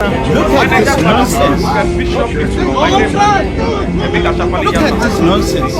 Look at this nonsense. Look at this nonsense.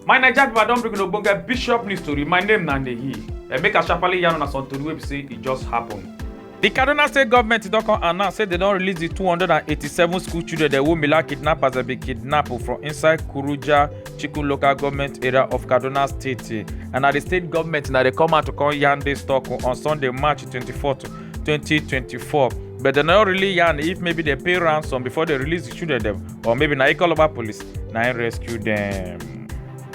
My Naija people, I don bring ogbonge bishop news story. My name na Nehi. Emeka eh, Shapali yarn una some tori wey be say e just happen. The Kaduna State government don come announce say they don release the 287 school children dem wey Mila kidnappers dem bin kidnap from inside Kuruja Chikun local government area of Kaduna State. And na the state government na dey come out to come yarn this talk on Sunday, March 24th. 2024 but dem no really yarn if maybe dem pay ransom before dem release di children dem or maybe na ikoloba police na im rescue dem.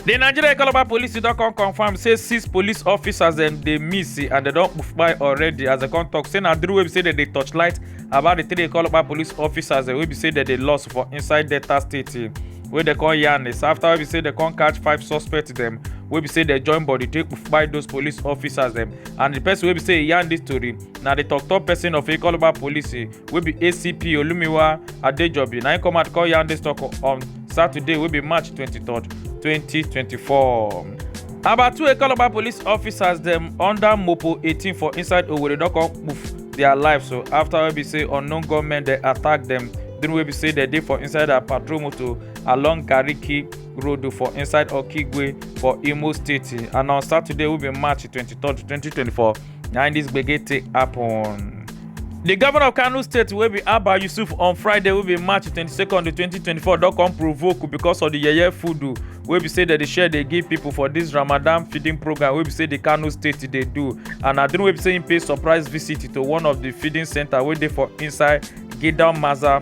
di nigeria ikoloba police don come confam say six police officers dem dey miss and dem don kpai already as dem come tok say na through wey be say dem dey torchlight about di three ikoloba police officers wey be say dem dey lost for inside delta state wey dem come yarn is after wey be say dem come catch five suspects dem wey be say dem join body take kpai those police officers dem and di person wey be say e yarn dis tori na di tok-tok person of ikoloba police eh, wey be acp olumiwa adejobi na im come out come yarn dis tok on saturday wey be march 23 2024 about two ikoloba police officers dem under mopo 18 for inside owerri don come poof their life so after wey be say unknown gunmen dey attack dem during wey be say dem dey for inside their patrol motor along gariki road for inside okigwe for imo state and on saturday wey be march 23 2024 na dis gbege take happen. di governor of kano state wey be abba yusuf on friday wey be march 22 2024 don come provoke because of di yeye food wey be say dem dey share dey give pipo for dis ramadan feeding program wey be say di kano state dey do and na during wey be say im pay surprise visit to one of di feeding centre wey dey for inside gidan maza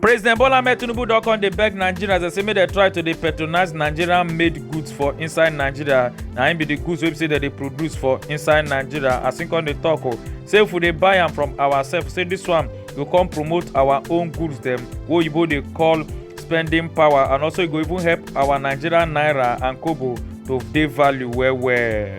president bola ahmed tinubu don come dey beg nigerians and say make dem try to dey patronize nigerian made goods for inside nigeria na im be the goods wey be say dem dey produce for inside nigeria as im come dey talk o say if we dey buy am from ourselves say this one go come promote our own goods dem wey oyibo dey call spending power and also e go even help our nigerian naira and kobo to dey value well well.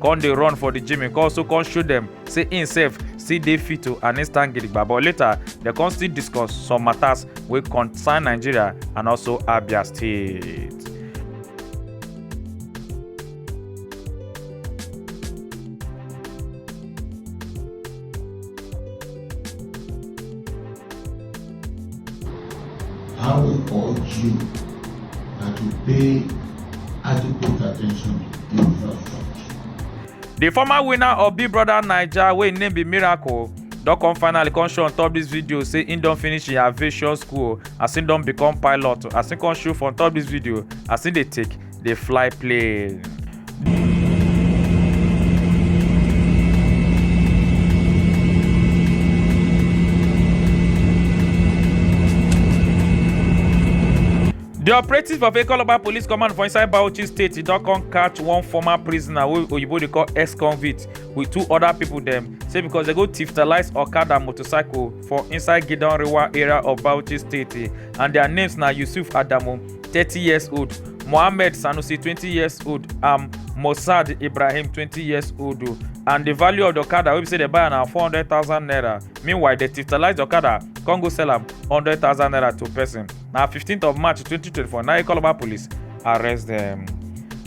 come dey run for the gym e come also come show dem say im sef still dey fit o and im stand gidigba but later dem come still discuss some matters wey concern nigeria and also abia state. I will urge you that you pay adequate attention to infrastructure. The former winner of Big Brother Naija wey im name be Miracle don come finally come show on top this video say im don finish im aviation school as im don become pilot as im come show for on top this video as im dey take dey fly play. di operatives for Ekoloba police command for inside Bauchi state e don come catch one former prisoner wey oyibo dey call ex-convict with two other people dem say because dem go tiftalise okada motorcycle for inside Gidan Rewa area of Bauchi state and their names na Yusuf Adamu 30 years old mohammed sanusi 20 years old um, mossad ibrahim 20 years old o and the value of the okada wey be say dem buy am na 400000 naira meanwhile dem titalize the okada come go sell am 100000 naira to person na 15th of march 2024 na ikoloba police arrest dem.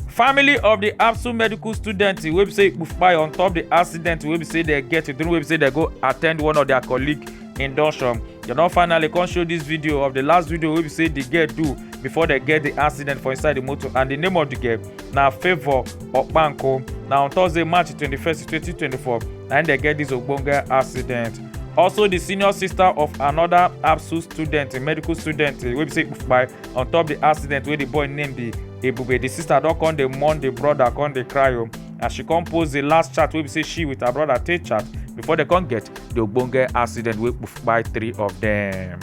family of di apsu medical student wey be say kpufpai on top di accident wey be say dem get during wey be say dem go attend one of dia colleague im don show dem don finally come show this video of the last video wey be say the girl do before they get the accident for inside the motor and the name of the girl na favour okpanko na on thursday march 21st 2024 na im dem get this ogbonge accident also the senior sister of another absu student a medical student wey be say kpai on top the accident wey the boy name be ebube the sister don come dey mourn the brother come dey cry o as she come post the last chat wey be say she with her brother take chat before they come get the ogbonge accident wey kpai three of dem.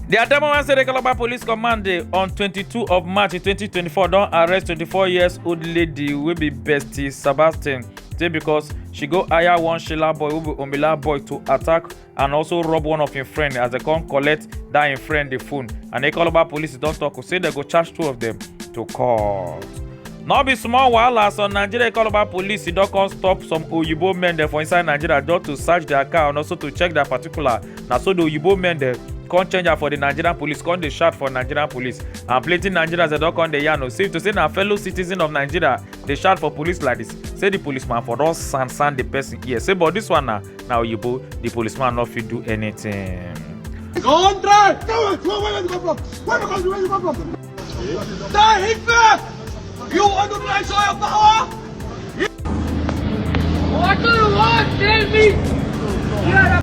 Di Adamawa State Calabar Police Command dey on 22 of March 2024 don arrest 24 years old lady wey be Bestie Sebastian say because she go hire one Sheila boy wey be Omila boy to attack and also rob one of im friend as dem come collect dat im friend di phone and Calabar police don tok say dem go charge two of dem to court. no be small wahala some nigeria calabar police don come stop some oyibo men dem for inside nigeria just to search their car and also to check their particular na so the oyibo men dem come change am for the nigerian police come dey shout for nigerian police and plenty nigerians dem don come dey yarn o say to say na fellow citizen of nigeria dey shout for police like this say the policeman for don sand sand the person ear say but this one na na oyibo the policeman no fit do anything. Contract! Come on, come on, where you come from? Where you come from? Where you come from?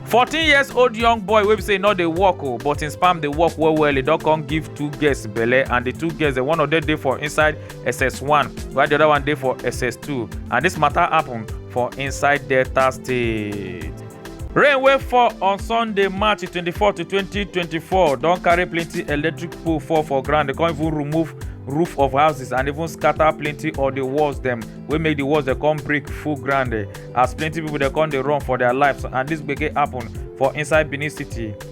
fourteen years old young boy wey be say e no dey work o oh, but im sperm dey work well well e don come give two girls belle and the two girls one of them dey for inside ss1 while the other one dey for ss2 and this matter happen for inside delta state. rain wey fall on sunday march 24 to 2024 don carry plenty electric pole fall for ground e come even remove roof of houses and even scatter plenty of the walls dem wey make the walls dey come break full ground eh, as plenty people dey come dey run for their lives and this gbege happen for inside benin city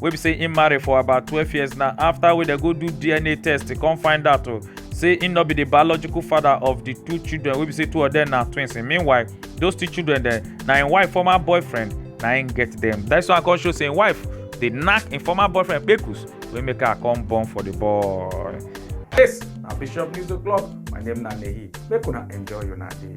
wey be say im marry for about twelve years now after wey dem go do dna test e come find out o oh, say im no be the biological father of the two children wey be say two of them na twins meanwhile those two children dem na im wife former boyfriend na im get them. that's why i come show say im wife dey knack im former boyfriend kpekus wey make her come born for the boy. this na bishop news o'clock my name na nehi make una enjoy una day.